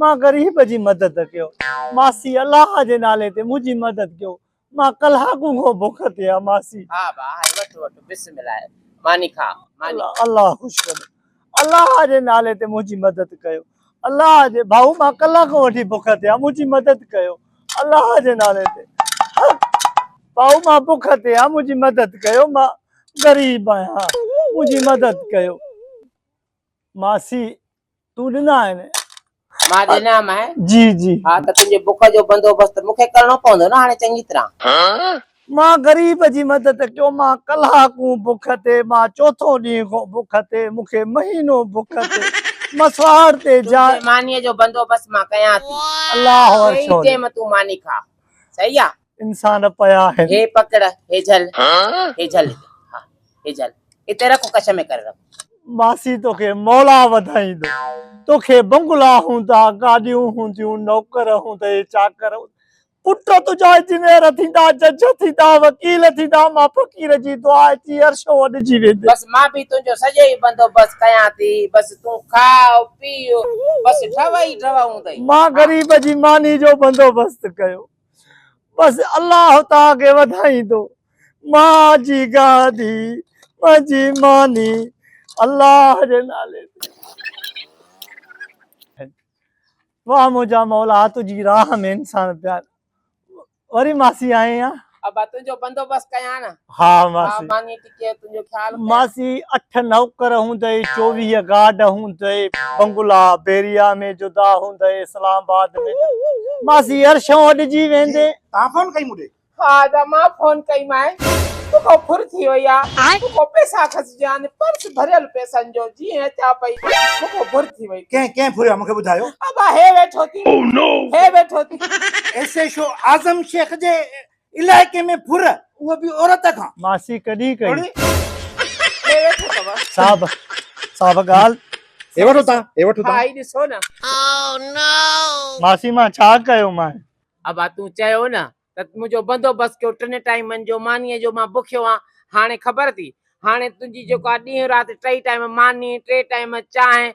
مان غريب جي مدد ڪيو. ماسي الله جي نالي تي منهنجي مدد ڪيو. مان ڪلاڪون کان بک تي آ ماسي. ها با هائي وٺ وٺ بسم الله ماني کا ماني. الله خوش ڪري الله جي نالي تي منهنجي مدد ڪيو الله جي ڀائو مان ڪلاڪون وٺي بک تي آ منهنجي مدد ڪيو الله جي نالي تي ڀائو مان بک تي آ منهنجي مدد ڪيو مان غريب آهيان منهنجي مدد ڪيو ماسي تون ڏنا آهن. مان ڏنا مئي. جي جي. ها ته تنهنجي بک جو بندوبست مون کي ڪرڻو پوندو نه هاڻي چڱي طرح. مان غريب جي مدد ڪيو مان ڪلاڪون بک تي مان چوٿون ڏينهن کون بک تي مون کي مهينو بک تي مان سوار تي جا. تنهنجي مانيء جو بندوبست مان ڪيان ٿي. الله عرش هولي. ڪيئي ٽيم تون ماني کا. صحيح آ. انسان پيا آهن. هي پڪڙ هي جهل هي جهل ها هي جهل اتي رک ڪڇ ۾ ڪري رک. ماسي توکي مولا وڌائيندو. توکي بنگلا هوندا گاڏيون هونديون نوڪر هوندئي چاڪر پٽ تنهنجا انجنيئر ٿيندا جج ٿيندا وڪيل ٿيندا مان فقير جي دعا اچي عرش اوڏجي ويندي. بس مان به تنهنجو سڄو ئي بندوبست ڪيان ٿي بس تون کاء پيء بس ڍؤ ئي ڍؤ هوندئي. مان غريب جي ماني جو بندوبست ڪيو بس الله تان کي وڌائيندو ماء جي گادي منهنجي ماني الله جي نالي واھ منهنجا مولا تنهنجي راھ ۾ انسان پيار وري ماسي آئين ها ابا تنهنجو بندوبست ڪيان ها ماسي ماسي اٺ نوڪر هوندئي، چوويهه گارڊ هوندئي، بنگلا بيريا ۾ جدا هوندئي، اسلام آباد ۾ جدا. ماسي عرشون اڏجي ويندي. تان فون ڪئي مون ڏي. ها ادا مان فون ڪئي مانء. تو کان ڦر ٿي وئي آ. مون کان پئسا کسجيان. پرس ڀريل پئسن جو. جيئن اچان پئي مون کان ڦر ٿي وئي. ڪنهن ڪنهن ڦريو آ مون کي ٻڌايو. ابا هي ويٺو ٿي. هي ويٺو ٿي. S H O Azam Shaikh جي علائقي ۾ ڦر اهو به عورت کان. ماسي ڪڏهن ڪئي. ڪڙي ڏي ويٺو اٿو. صاحب صاحب ڳالهه. هي وٺو تان هي وٺو تان. هائي ڏسو نه. او نو. ماسي مان ڇا ڪيو مانء. ابا تون چيو نه ته منهنجو بندوبست ڪيو ٽن ٽائيمن جو مانيء جو مان بکيو آهيان هاڻي خبر اٿئي هاڻي تنهنجي جيڪو آ ڏينهن رات ٽئي ٽائيم ماني ٽي ٽائيم چانهه